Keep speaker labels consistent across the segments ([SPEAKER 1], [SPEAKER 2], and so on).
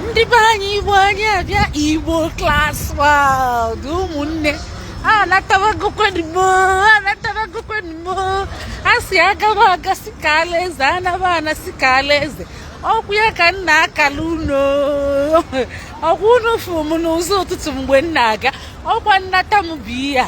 [SPEAKER 1] ndị be anyị igbo anyị abịa igbo class world ụmụnne anatabagokwanụ m o anatabagokwanụ m o a sị agaba aga sị kaala eze anaba ana sị kaala eze ọkwa ya ka m na-akala unu ọkwa unu fụrụ m n'ụzọ ụtụtụ mgbe m na-aga ọkwa nnata m bụ ihe a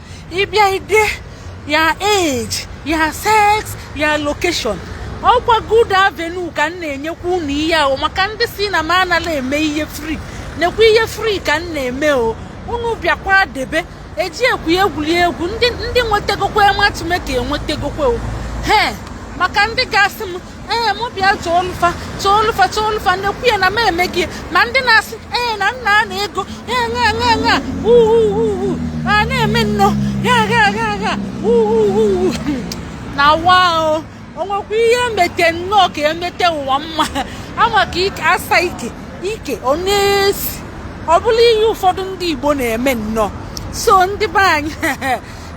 [SPEAKER 1] ị bịa i dee your age your sex your location ọkwa good avenue ka m na-enyekwa unu ihe ahụ maka ndị sị na m anala eme ihe free nekwa ihe free ka m na-eme o unu bịakwa debe eji ekwu egwuri egwu ndị nwetegokwa matchmaker enwetegokwa o he maka ndị ga-asị m ee mụ bịa chọọlụ fa chọọlụ fa chọọlụ fa nekwa ya na m emego ya ma ndị na-asị ee na m na-ana ego ya ṅa ṅa ṅa uhuhuhu a na-eme nnọ ya gha gha gha uhuhuhu na wa o o nwekwa ihe e mete nnọọ ka e mete ụwa mma ama ka ike asa ike ike ọ na-esi ọ bụla ihe ụfọdụ ndị Igbo na-eme nnọọ so ndị be anyị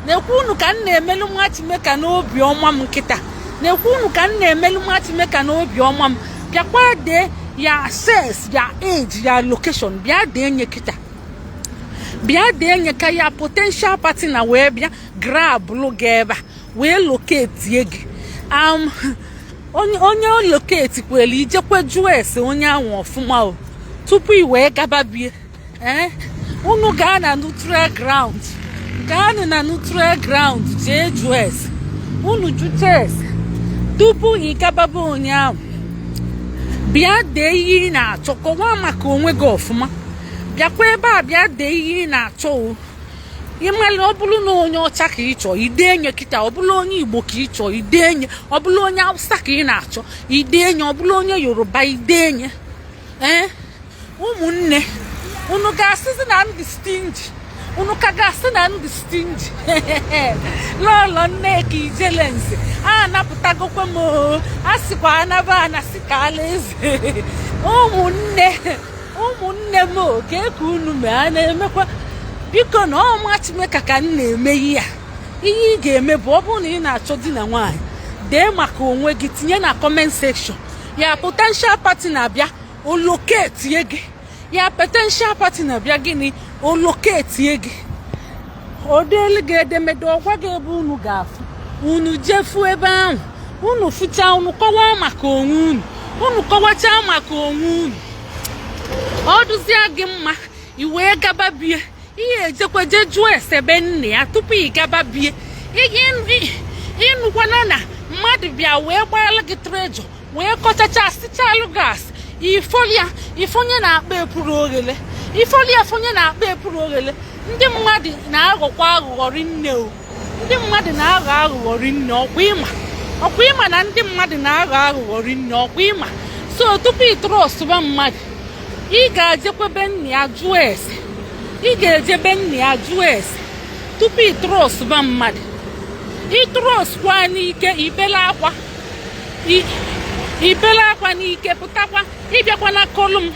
[SPEAKER 1] nekwa unu ka m na-emelu matchmaker n'obi ọma m kịta nekwa unu ka m na-emelu matchmaker n'obi ọma m bịakwa dee your sex your age your location bịa denye kịta bịa denye ka your potential partner wee bịa grabụlụ gị ebe a wee loketie gị um, onye onye loketikwere i jekwe jụọ ese onye ahụ ọfụma o tupu i wee gaba be ya ee unu gaa na neutral ground gaanụ na neutral ground jee jụọ ese unu jụcha ese tupu ị gaba be onye ahụ bịa dee ihe ị na-achọ kọwaa maka onwe gị ọfụma bịakwa ebe a bịa dee ihe ị na-achọ o ị mala ọ bụrụ na onye ọcha ka ị chọọ i denye kịta ọ bụrụ onye igbo ka ị chọọ i denye ọ bụrụ onye hausa ka ị na-achọ i denye ọ bụrụ onye yoruba i denye ee ụmụnne unu ga-asịzi na m dị stingy unu ka ga-asị na m dị stingy lọlọ nneka ijelenze anapụtagokwa m o a sịkwa anaba ana sị kaala eze ụmụnne ụmụnne m o kee ka unu mee a na-emekwa biko na ọ matchmaker ka m na-eme ihe a ihe ị ga-eme bụ ọ bụrụ na ị na-achọ di na nwaanyị dee maka onwe gị tinye na comment section your potential partner bịa o loketie gị your potential partner bịa gịnị o loketie gị o deelu gị edemede ọ gwa gị ebe unu ga-afụ unu jee fụ ebe ahụ unu fụchaa unu kọwaa maka onwe unu unu kọwachaa maka onwe unu ọ dịzie gị mma i wee gaba be ya i jekwaa jee jụọ ese be nne ya tupu ị gaba be ya ịnụkwana na mmadụ bịa wee gbaala gị trejọ wee kọchacha sichalụ gas ifolia ị fonye n'akpa epuru oghele ifolia fonye n'akpa epuru oghele ndị mmadụ na-aghọkwa aghụghọ rinne o ndị mmadụ na-aghọ aghụghọ rinne ọkwa ịma ọkwa ịma na ndị mmadụ na-aghọ aghụghọ rinne ọkwa ịma so tupu ị trustụba mmadụ ị ga-ejekwa be nna ya jụọ ese ị ga-eje be nna ya jụọ ese tupu ị trustụba mmadụ ị trustụkwa n'ike i bele akwa i bele akwa n'ike pụtakwa ị bịakwa na-akọlụ m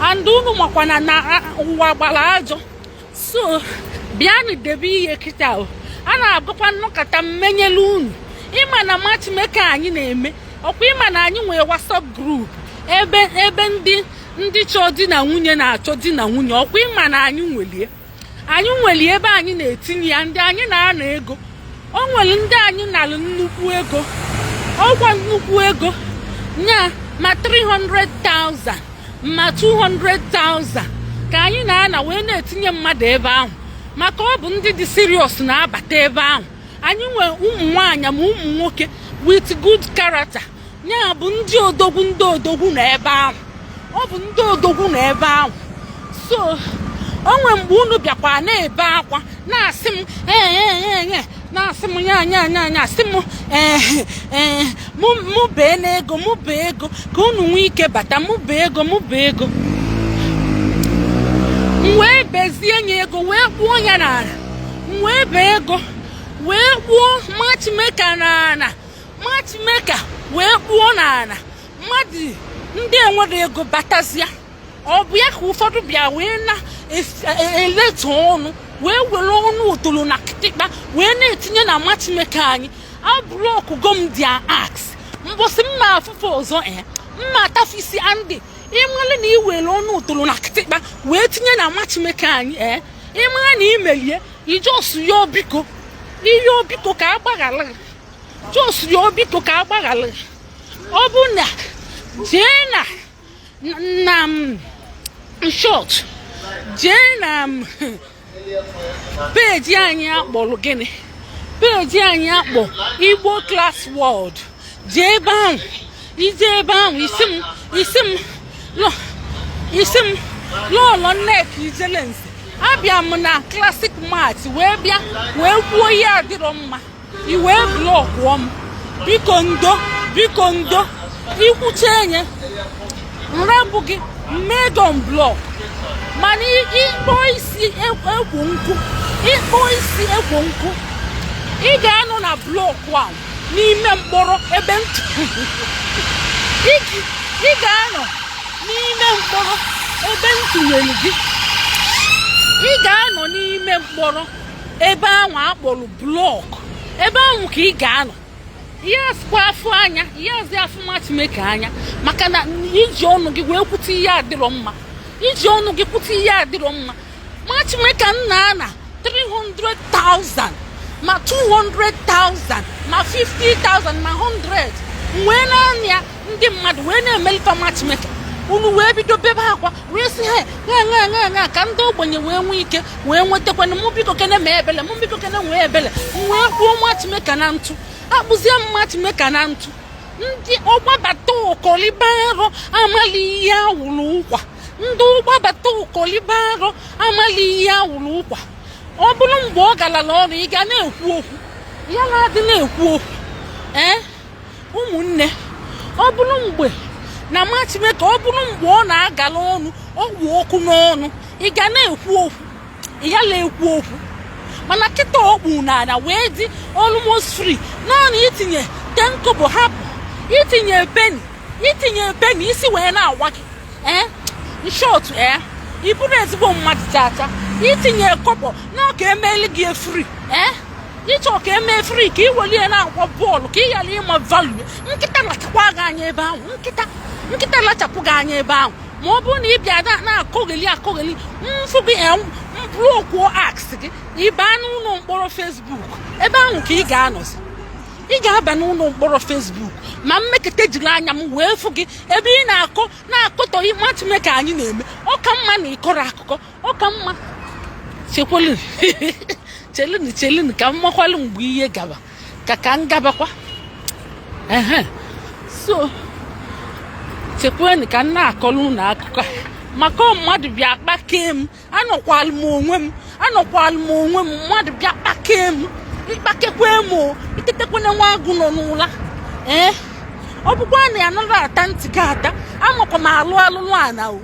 [SPEAKER 1] and unu makwana na ụwa gbara ajọ so bịanụ debe ihe kịta o a na-agakwa nọkata m menyelu unu ịma na matchmaker anyị na-eme ọkwa ịma na anyị nwere WhatsApp group ebe ebe ndị ndị chọọ di na nwunye na-achọ di na nwunye ọkwa ịma na anyị nwelu ya anyị nwere ebe anyị na-etinye ya ndị anyị na-ana ego o nwere ndị anyị nalụ nnukwu ego ọ kwa nnukwu ego nya ma 300,000 ma 200,000 ka anyị na-ana wee na-etinye mmadụ ebe ahụ maka ọ bụ ndị dị serious na-abata ebe ahụ anyị nwere ụmụ nwaanyị ma ụmụ nwoke with good character ya bụ ndị odogwu ndị odogwu nọ ebe ahụ ọ bụ ndị odogwu nọ ebe ahụ so o nwee mgbe unu bịakwa na-ebe akwa na-asị m ee e, e, e, na-asị m ya anya anya anya asị m ee ee mụ bee n'ego mụ bee ego ka unu nwee ike bata mụ bee ego mụ bee ego m wee bezie nye ego wee kpuo ya n'ala m wee bee ego wee kpuo matchmaker n'ala matchmaker wee kpuo n'ala mmadụ ndị enwerọ ego batazia ọ bụ ya ka ụfọdụ bịa wee na-eleta e, e, ọnụ wee were ọnụ otolo na kịtịkpa wee na-etinye na matchmaker anyị ablockụgo m their ass mbọsị m ma-afụ fa ọzọ e m ma-ata fa isi and ị mara na i were ọnụ otolo na kịtịkpa wee tinye na matchmaker anyị ee ị mara na i melu ya ị just yọọ biko ị yọọ biko ka a gbaghara just rịọ biko ka a gbaghara ọ bụ na jee na in short jee na peji anyị a kpọrọ gịnị peji anyị a kpọ Igbo Class World jee ebe ahụ i jee ebe ahụ ị sị m ị sị m ị sị m lọọlọ nnek ijelensi abịa m na Classic Match wee bịa wee kwuo ihe adịrọ mma i wee blọkụọ m biko ndo biko ndo ikwucha enye m rapụ gị m mee unblock mana ịkpọ isi ekwo nkụ ịkpọ isi ekwo nkụ ị ga-anọ na blọkụ ahụ n'ime mkpọrọ ebe ị ga-anọ n'ime mkpọrọ ebe m tụnyere gị ị ga-anọ n'ime mkpọrọ ebe ahụ a kpọrọ blọk ebe ahụ ka ị ga-anọ ihe asịkwa afụ anya ihe azị afụ matchmaker anya maka na i ji ọnụ gị wee kwute ihe adịrọ mma i ji ọnụ gị kwute ihe adịrọ mma matchmaker na-ana 300,000 ma 200,000 ma 50,000 ma 100 wee na-ana ya ndị mmadụ wee na-emelite matchmaker unu wee bido bebe akwa wee si ha ṅaṅaṅaṅa ka ndị ogbenye wee nwee ike wee nwetakwanụ mụ biko kene mee ebele mụ biko kene nwee ebele wee gbuo matchmaker na ntụ a kpụzie matchmaker na ntụ ndị ọgbabata ụkọliba arọ amali ihe awụrụ ụkwa ndị ọgbabata ụkọliba arọ amali ihe awụrụ ụkwa ọ bụrụ mgbe ọ galala ọnụ ị ga na-ekwu okwu ya na-adị na-ekwu okwu ee ụmụnne ọ bụrụ mgbe na matchmaker ọ bụrụ mgbe ọ na-agala ọnụ ọgwụ okwu n'ọnụ ị ga na-ekwu okwu ị ya na-ekwu okwu mana kịta ọ kpụ n'ala wee dị almost free naanị itinye ten kobo hapụ itinye penny itinye penny isi wee na-awa gị ee eh? in short ee eh? ị bụrụ ezigbo mmadụ chacha itinye kobo na ọ ga-emeli gị ya free ee eh? ị chọ ka e mee free ka ị welie na-agba bọọlụ ka ị ghara ịma value nkịta lachapụ gị anya ebe ahụ nkịta nkịta lachapụ gị anya ebe ahụ ma ọ bụrụ na ị bịa na-akọgheli akọgheli m fụ gị m blọkụọ ass gị na ịba n'ụlọ mkpọrọ Facebook ebe ahụ ka ị ga-anọzi ị ga-aba n'ụlọ mkpọrọ Facebook ma m mekata jiri anya m wee fụ gị ebe ị na-akọ na-akọtọ matchmaker anyị na-eme ọ ka mma na ị kọrọ akụkọ ọ ka mma chekwalụ chelụnụ chelụnụ ka m makwalụ mgbe ihe gaba ka ka m gabakwa ehe so chekwanụ ka m na-akọlụ ụnụ akụkọ maka mmadụ bịa kpakee m anọkwalụ m onwe m anọkwalụ m onwe m mmadụ bịa kpakee m ịkpakekwe m o itetekwana nwa agụ nọ n'ụla ee ọ bụkwa na ya nọrọ ata ntị gị ata amakwa m alụ alụlụ ana o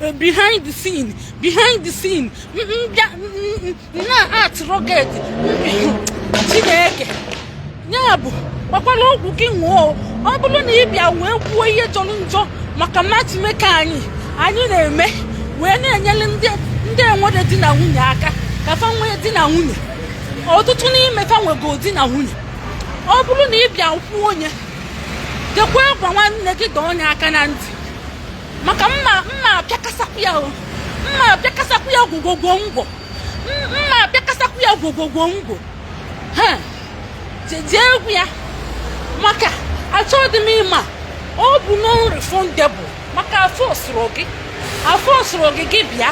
[SPEAKER 1] Eh, behind the scene behind the scene m bịa na-atụ rocket chineke ya bụ gbakwala ọgwụ gị ṅụọ ọ bụrụ na ị bịa wee kwuo ihe jọrọ njọ maka matchmaker anyị anyị na-eme wee na-enyere ndị enwerọ di na nwunye aka ka fa nwee di na nwunye ọtụtụ n'ime fa nwego di na nwunye ọ bụrụ na ị bịa kwuo onye jekwa gwa nwanne gị dọọ onye aka na ntị maka mma mma apịakasakwu ya o mma apịakasakwu ya gwogwogwo ngwo M- mma apịakasakwu ya gwogwogwo ngwo ha jeje egwu ya maka achọghị m ịma ọ bụ non refundable maka afọ sụrụ gị afọ sụrụ gị gị bịa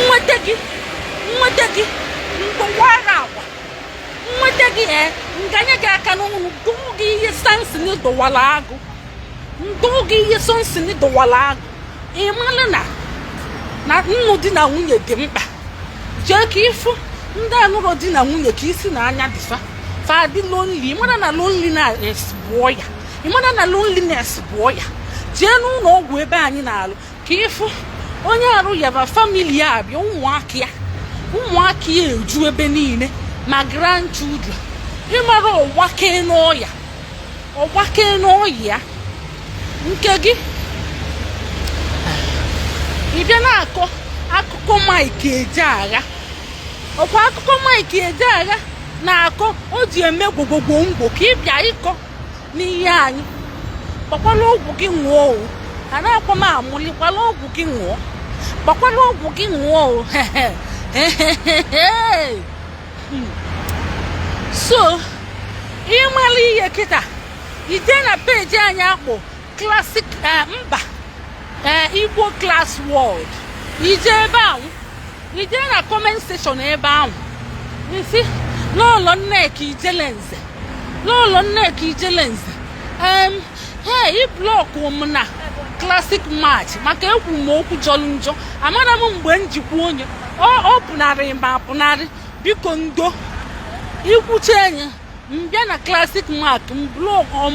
[SPEAKER 1] nweta gị nweta gị mgbawara agwa nweta gị ee nganye gị aka n'ọnụ dọọ gị ihe Samson dọwara agụ m dọọ gị ihe Samson dọwara agụ ịmalụ na na nnụ di na nwunye dị mkpa jee ka ịfụ ndị anụrọ di na nwunye ka isi na anya dịfa fa dị lonely ịmara na loneliness bụ ọya ịmara na loneliness bụ ọya jee n'ụlọ ọgwụ ebe anyị na-alụ ka ịfụ onye arụ ya ba family ya abịa ụmụaka ya ụmụaka ya eju ebe niile ma grandchildren ịmara ọ gbakee n'ọya ọ gbakee n'ọya nke gị ị bịa na-akọ akụkọ Mike Ejeagha ọkwa akụkọ Mike Ejeagha na-akọ o ji eme gwogwogwo ngwo ka ị bịa ịkọ n'ihe anyị gbakwala ọgwụ gị ṅụọ o a na-akwa m amụli gbala ọgwụ gị ṅụọ gbakwala ọgwụ gị ṅụọ o so ịmara ihe kịta ije na peji anyị a kpọ Classic eh, mba eh, Igbo Class World ije ebe ahụ ije na comment section ebe ahụ ị sị Lọọlọ Nneka Ijele Nze Lọọlọ Nneka Ijele Nze Hey, ị blọkụ m na Classic Match maka ekwu m okwu jọrọ njọ amarọ m mgbe njikwa onwe pụnarị m apụnarị biko ndo ikwucha enyi m bịa na Classic Match m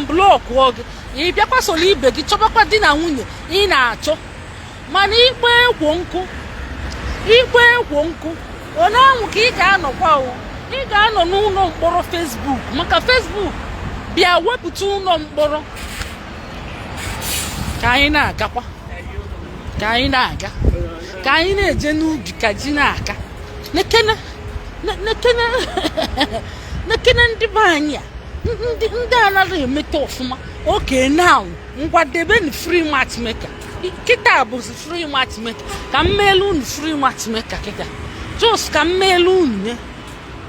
[SPEAKER 1] blọkụ gị ị bịakwa soro ibe gị chọbakwa di na nwunye ị na-achọ mana ị kpọ ekwo nkụ ị kpọ ekwo nkụ ụnọ anwụ ka ị ga-anọkwa o ị ga-anọ n'ụlọ mkpọrọ Facebook maka Facebook bịa wepụta ụlọ mkpọrọ ka anyị na-agakwa ka anyị na-aga ka anyị na-eje n'ubi ka ji na-aka nekene nekene nekene ndị be anyị a ndị anaghị emeta ọfụma okay now ngwa debe na free matchmaker kịta bụzi free matchmaker ka m meelu unu free matchmaker kịta just ka m meelu unu nye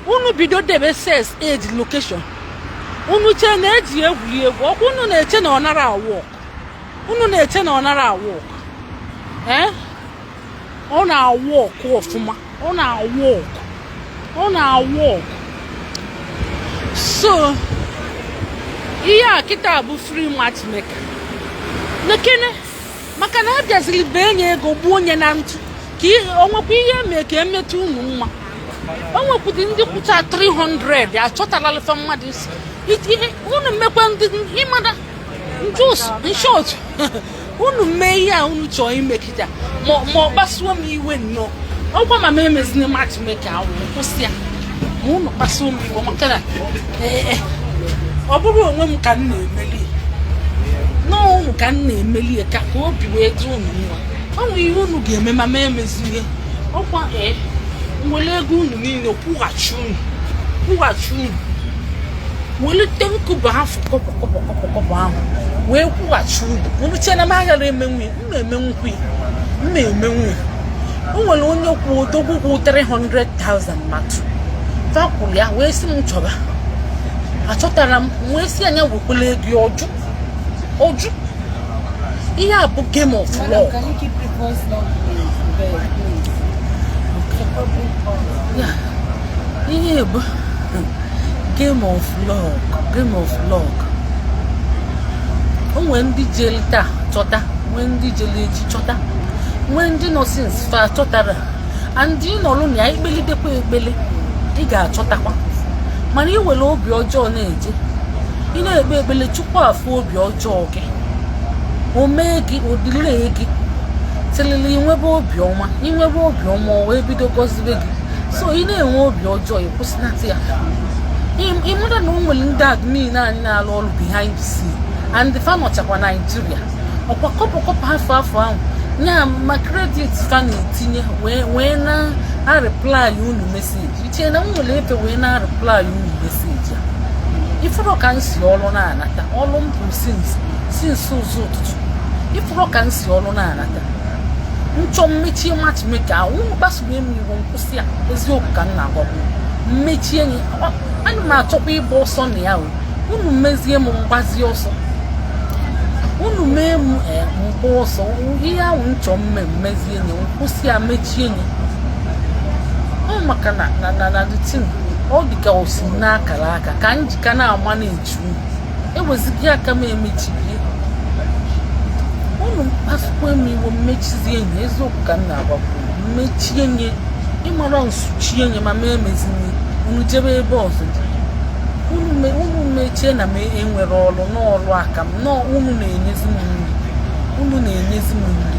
[SPEAKER 1] unu bido debe sex age location unu chee na eji egwuri egwu ọkwa unu na-eche na ọ nara awork unu na-eche na ọ nara awork ee eh? ọ na-awork ọfụma ọ na-awork ọ na-awork so ihe a kịta bụ free matchmaker nekene maka na a bịaziri bee nye ego gbuo onye na ntụ ka o nwekwa ihe e mee ka emetụ unu mma o nwekwudị ndị kwụcha 300 achọtalalị fa mmadụ isi unu mekwa ndị ịmada just in short unu mee ihe a unu chọọ ime kịta ma ọ kpasuo m iwe nnọọ ọkwa ma m emezina matchmaker ahụ kwụsị ya ma unu kpasuo m iwe maka na ee ọ bụrọ onwe m ka m na-emeli na ọ unu ka m na-emeli ya ka ka obi wee dị unu mma ọ nwere ihe unu ga-eme ma m emezie ọkwa ee m were ego unu niile kwụghachi unu kwụghachi unu welite nkụba afụ kọbọ kọbọ kọbọ ahụ wee kwụghachi unu unu chee na m aghara emenwu m na-emenwukwa m na-emenwu o nwere onye kwụ odogwu kwụ 300,000 mmadụ fakwụrụ ya wee sị m chọba achọtara m wee sị ya nya wekwele ego ọ jụ ọ jụ ihe a bụ game of luck ihe bụ game of luck game of luck o nwee ndị jeli taa chọta nwee ndị jeli echi chọta nwee ndị nọ since fa chọtara and ị nọrụ na ya i kpelidekwa ekpele ị ga-achọtakwa mana ị were obi ọjọọ na-eje ị na-ekpe ekpele chukwu afụ obi ọjọọ gị o mee gị ọ delay gị tilili i nwebe obiọma i nwebe obiọma o wee bido gọzibe gị so ị na-enwe obi ọjọọ ị kwụsị ị mara na o nwere ndị admin anyị na-alụ ọrụ behind the scene and fa nọchakwa Nigeria ọkwa kọbọ kọbọ afụ afụ ahụ ya ma credit fa na-etinye wee na-areply unu message i che na m nwere efe wee na-areply unu message a ị fụrụ ka m si ọrụ na-anata ọrụ m bụ since ụzọ ụtụtụ ị fụrụ ka m si ọrụ na-anata m chọọ m mechie matchmaker ahụ unu kpasuru m iwe kwụsị ya eziokwu ka m na-agwagbu m mechie nya ana m achọkwa ịgba ọsọ na ya o unu mezie m m gbazie ọsọ unu mee m eh, m gbaa ọsọ ihe ahụ m chọọ m me m mezie nya kwụsị ya mechie nya ọ maka na na na na ọ dị ka o si n'akara aka ka m ji ka na-ama na-echu ewezighị aka m emechighị unu kpasukwa m iwe m mechizie nye eziokwu ka m na-agwakwu m mechie nye ị mara m suchie nye m ama emezi nye unu jebe ebe ọzọ unu mechie na m enwere ọrụ n'ọrụ aka m na unu na-enyezi m nri unu na-enyezi m nri